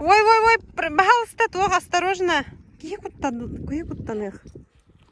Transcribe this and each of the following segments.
Ой-ой-ой, пожалуйста, туох осторожно. Киһи куттан, киһи куттаныах.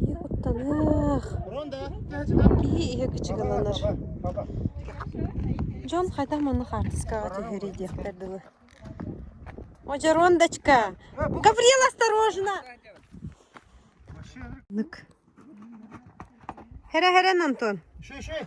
Киһи куттаныах. Киһи иһэ кычыгыланар. Дьон хайдах муну хаартыскаҕа түһэрий диэхтэр дылы. Ожерондочка! Гаврил, осторожно! Нык. Херэ-херэ, Антон. Еще, еще.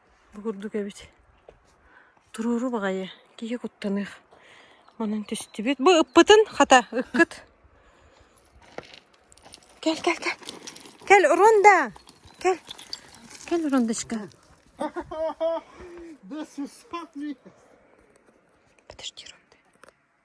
Бу курдук эбит. Туруору баҕайы киһи куттаныах. Манан түстүбүт. Бу ыппытын, хата, ыккыт. Кэл, кэл, кэл. Кэл, Уронда. Кэл. Кэл, Урондочка. This is funny. Подожди, Уронда.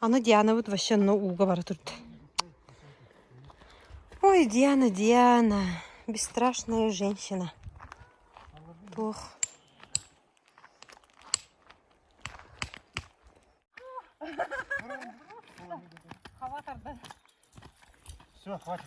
Аны Дианабыт вообще но ууга бара турда. Ой, Диана, Диана, бесстрашная женщина. Туох. Хава тарды. Все, хватит.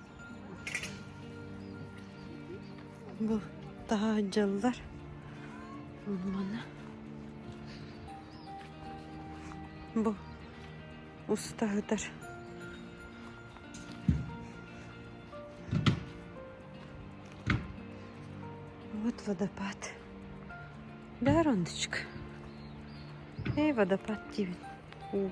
Бу таһаһдьаллар уонна бу устаһытар Вот водопад. Да, Рондочка? Эй, водопад тебе. Вот.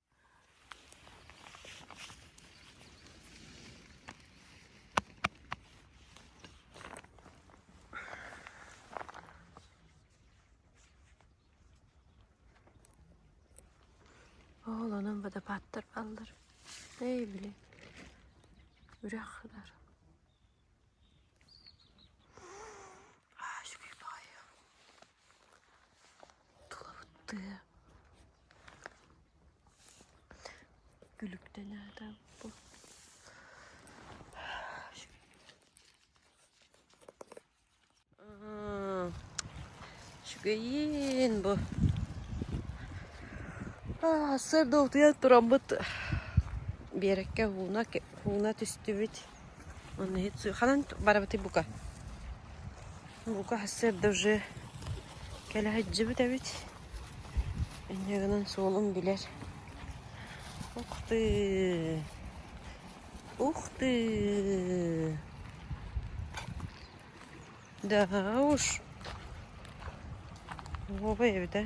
Оҕолонон водопадтар баллар. Эй, били, үрэх ылар. Аач, күй баайым. Тулабыттыа күлүктэн аатаабыппын Үчүгэйин бу сарда утуйан тураммыт биэрэккэ ууна ууна түстүбүт Онно ханан барбытый бука? Бука сарда уже кэлэ сылдьыбыт эбит. Инньэ гынан суолун билэр. Ух ты! Ух ты! Да уж! Уопай эбит, э?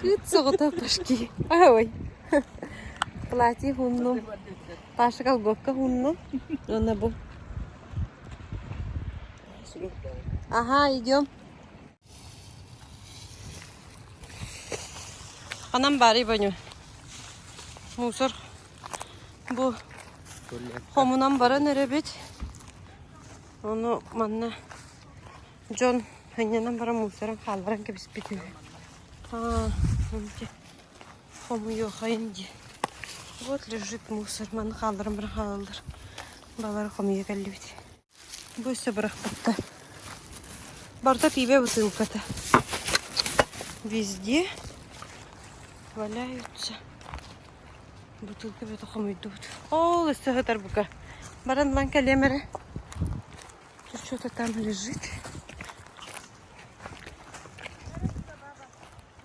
Кыт соҕото кашки. Ой. Платье хунну. Паша колготка хунну. Она бу. Ага, идем. Ханан баарый боню? Мусор бу хомунан баран эрэбит. Ону манна дьон ханньанан баран мусоран хаалбаран кэбиспит үһү. А, хомуйуохайын дии. Вот лежит мусор. Маны хаалдыран баран хаалаллар. Балар хомуйа кэллибит. Бу өссө бырахпатта. Барыта пиибэ бытыылката. Везде валяются. Бутылка бөтө хомуйдубут. Ол өссө сытар бука. Баран булан кэлиэм эрэ. Тут что-то там лежит.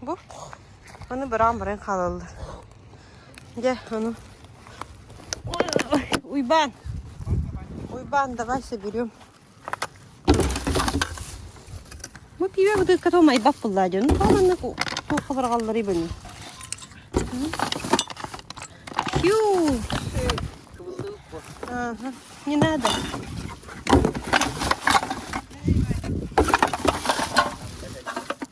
Бу аны быраан баран хаалаллар. Дьэ, ону Уйбаан. Уйбаан, давай соберем. Бу пиwe бытыкка то майбак булла дьон. Баланна туохха баргаллары быны. Пью. Ага, не надо.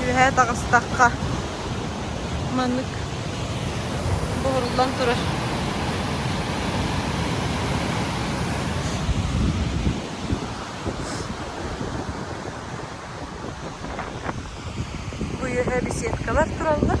Үөһээ таҕыстахха маннык буһуруллан турар бу үөһээ беседкалар тураллар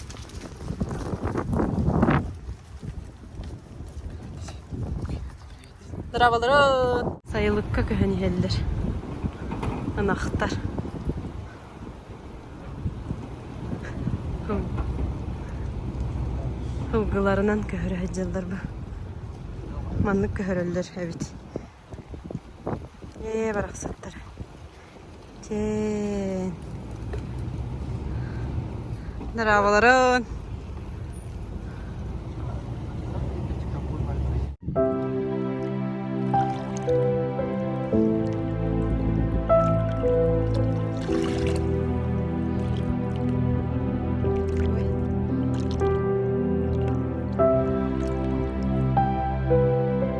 Сайылыкка көһөн иһэллэр. Ынахтар. Ылгыларынан көһөрө сылдьаллар бу. Маннык көһөрөллөр эбит. Ээ, барахсаттары. Чээн. Дорооболорун!